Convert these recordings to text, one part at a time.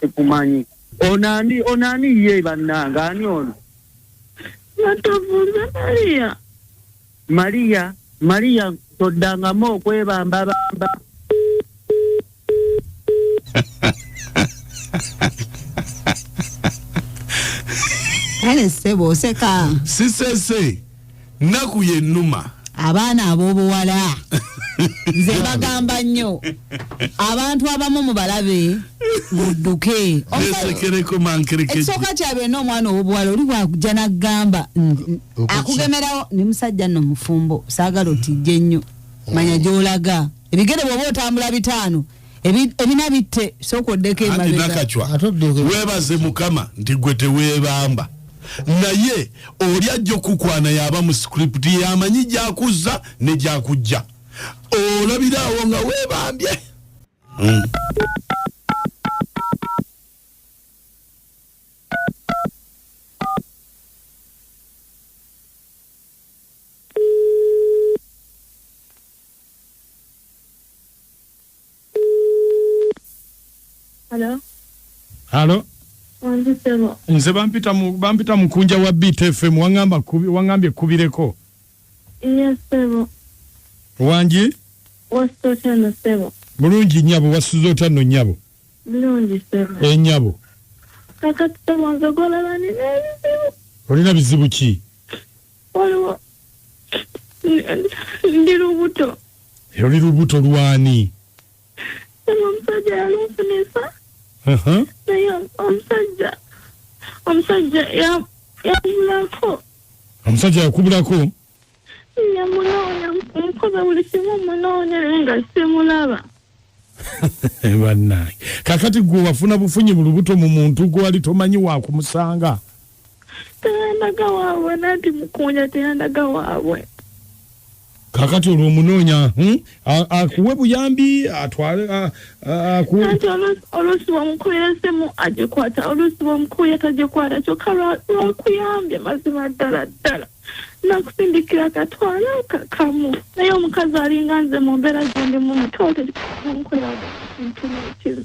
tekumanyi ono ani ono ani ye bannanga ani ono natovuze mariya mariya mariya toddangamu okwebambabamba kale sebo oseka sisese naku yenuma abaana abobuwala nze bagamba nnyo abantu abamu mubalabe mudduke ekisooka kyabwe na omwana owobuwala oli wakuja nagamba akugemerawo ni musajja no mufumbo saagala otijje nnyo manya gyolaga ebigere bwoba otambula bitaano ebina bitte sooka oddeko emabegawebaaze mukama nti gwe teweebamba naye oli ajja okukwana yaba mu script yamanyi gyakuzza ne gyakujja olabiraawo nga weebambye hmm. Hello. Halo. Wanzi sebo. Nze bampita mu bampita mukunja wa BTFM wangamba kubi wangambye kubireko. Yes sebo. Wanji? Wasto tano sebo. Bulungi nyabo wasuzo tano nyabo. Bulungi sebo. E eh, nyabo. Kakati sebo nzogola bani nezi sebo. Olina bizibu ki? waliwo ndi lubuto era oli lubuto lwani olwo omusajja yalunfunisa Aha. naye omusajja omusajja ya- yamulako omusajja yakubulako yamunoonya mukoza buli kimu munoonya naye nga simulaba bannange kakati gwe wafuna bufunyi mu lubuto mu muntu gwe wali tomanyi wakumusanga teyandaga waabwe nanti mukunya teyandaga waabwe kakati olwo omunoonya hmm? akuwe buyambi atwale akuweanti oluusi wamukuira esimu agikwata oluusi wamukuya tagikwata kyokka lwakuyambye mazima ddala ddala nakusindikira akatwala kakamu naye omukazi alinga nze mu mbeera gyendimu mutoote nkoleraga kintu nekimu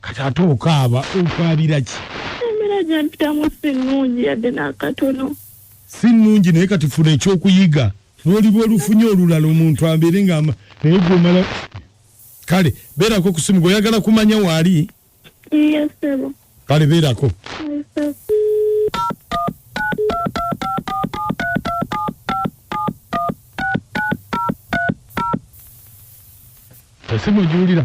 kati ate okaaba okaabira ki embeera gyempitamu si nnungi yadde n'akatono si nnungi naye kati funa ekyokuyiga lwoliba olufunye olulala omuntu abeere nga naye gwomala kale beerako kusimu gweoyagala kumanya waali kale beerako esimu ogiwulira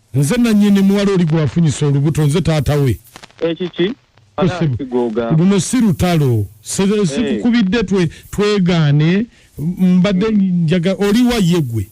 Nze nanyini muwala oli gwafunyisa olubuto nze taata we. Ekiki? luno si lutalo sikukubidde eh. twegaane mbadde hmm. njaga oliwa ye gwe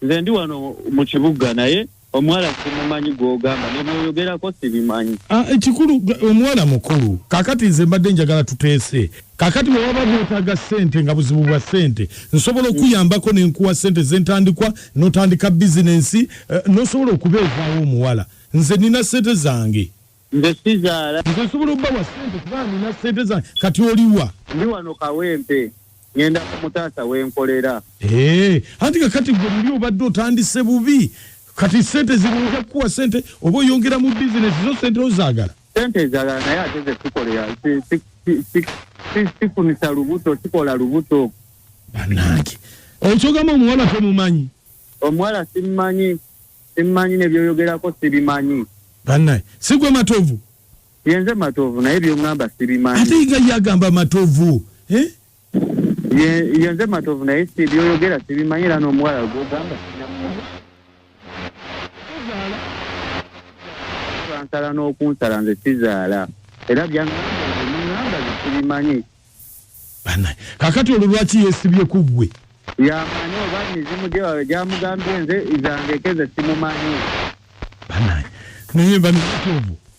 nze ndi wano mu kibuga naye omuwala simumanyi gwogamba nemwoyogerako sibimanyi ah, ekikulu omuwala mukulu kakati nze mbadde njagala tuteese Kakati bwe waba gwetaaga ssente nga buzibu bwa ssente, nsobola okuyambako ne nkuwa ssente z'entandikwa n'otandika bizinensi eh, n'osobola okubeezaawo omuwala. Nze nina ssente zange. Nze sizaala. Nze nsobola okubawa ssente kuba nina ssente zange. Kati oliwa? Ndi wano Kawempe. Ngenda ku mutaasa we nkolera. Eh, anti kakati gwe luli obadde otandise bubi. Kati ssente zino nja kukuwa ssente oba oyongera mu bizinensi zo ssente ozaagala? sente ezalala naye ate zetukolera sifunisa lubuto sikola lubuto banange ekyogamba omuwala temumanyi omuwala simumanyi simumanyi nebyoyogerako sibimanyi banaye sigwe matovu yenze matovu naye byongamba sibimanyi ate iga yagamba matovu eh? Ye nze Matovu naye si byoyogera sibimanyi era n'omuwala gwogamba bansala n'okunsala nze sizaala era byanamba sibimanyi kakati olwo lwaki yesibye ku ggwe yamanyi oba mizimu gyamugambye nze zange keze simumanyi naye bamitovu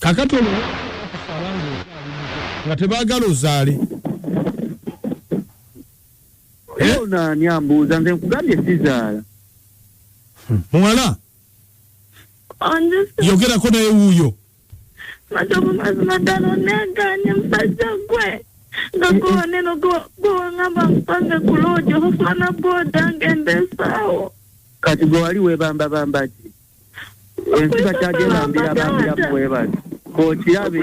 kakati olwokusaba nga tebagala ozaale eh? onaani ambuuza nze nkugambye sizaala hmm. muwala yogerako naye wuuyo matovu mazima ddala oneganye musajja gwe nga gwowaneno gwowangamba nkupange ku loojo ofana bwoda ngenda esaawo kati gwe wali webambabambaki ensi bakyagenda mbira bambira bwebali okirabe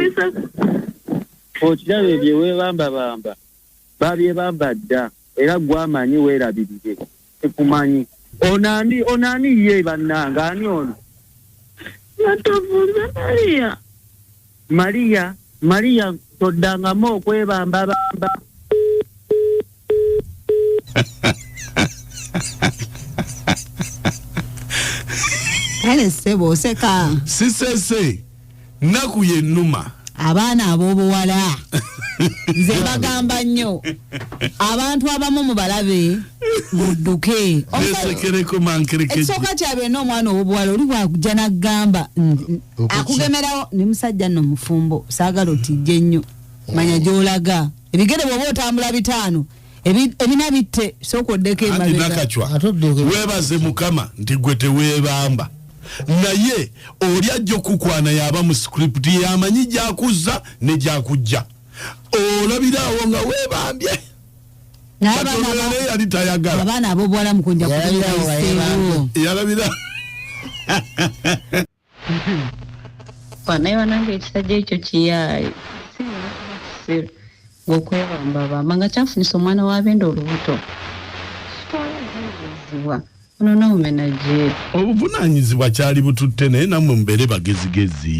okirabe byewebambabamba babyebamba dda era gwamanyi werabirire tekumanyi onani onani ye bannanga ani ono yatovuze maria Maria, Maria toddangamu okwebambabamba. kale ssebo oseka sisese nnaku yennuma abaana ab'obuwala nze bagamba nnyo abantu abamu mubalabe mudduke ekisoka kya byonna omwana ow'obuwala oli bwakujja n'agamba akugemerawo ne musajja no mufumbo sagala otijje nnyo mm. manya gyolaga ebigere bwoba otambula bitaano ebina bitte sooka oddeko ewebaze mukama nti gwe tewebamba naye oli ajja okukwana yaba mu script yamanyi gyakuzza ne gyakujja olabiraawo nga webambye yali tayagala abaana abobuwala mukunja kubeera iseewo yalabira banaye banange ekisajja ekyo kiyaaye kisiru okwebambabamba nga kyafunisa omwana wa benda olubuto kitwalazibwa ono nomumena jeeri obuvunanyizibwa kyali bututte naye namwe mubeere bagezigezi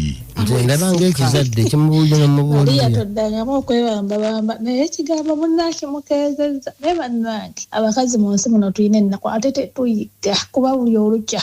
ndaba ngaekizadde kimubuulira nomubuulira toddangamu okwebambabamba naye ekigambo munange mukeezezza naye bannange abakazi mu nsi muno tulina ennaku ate tetuyiga kuba buli olukya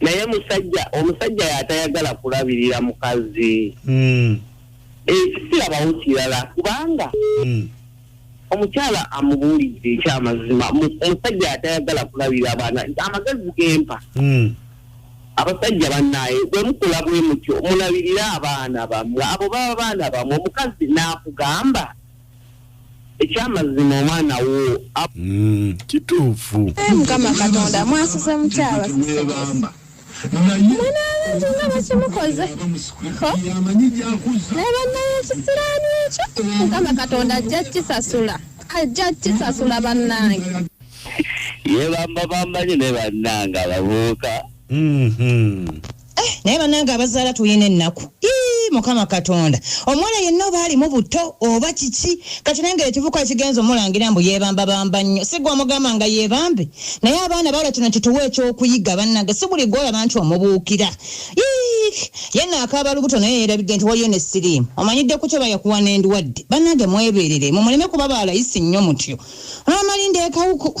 naye musajja omusajja yatayagala kulabirira mukazi mm. ekisirabawo eh, kirala kubanga mm. omukyala amubuulidde ekyamazima omusajja atayagala kulabira abaana amagezi gempa hmm. abasajja banaye bwemukula bwemutyo mulabirire abaana bamwe abo baba baana bamwe omukazi nakugamba ekyamazima omwana wo mm, kituufu eh, mukama katonda mwasuze mukyaba mwana abantu nga bakimukoze naye bannaye ekisiraani ekyo mukama katonda ajja kisasula ajja kisasula bannange yebamba bambanyi ne bannange ababuuka mm-hmm. Eh, naye banange abazaala tulina ennaku mukama katonda omwana yenna oba alimu buto oba kiki kati nange ekivuka ekigenza omulangira mbu yebambabamba nnyo sigwa omugamba nga yebambe naye abaana bawula kino kituwa ekyokuyiga banange si buli gwolaba nti omubuukira yenna akaaba lubuto naye yerabidde nti waliyo ne siriimu omanyidde ku kyo bayakuwa n'endwadde banange mweberere mumuleme kuba balayisi nnyo mutyo amalinda ekawuku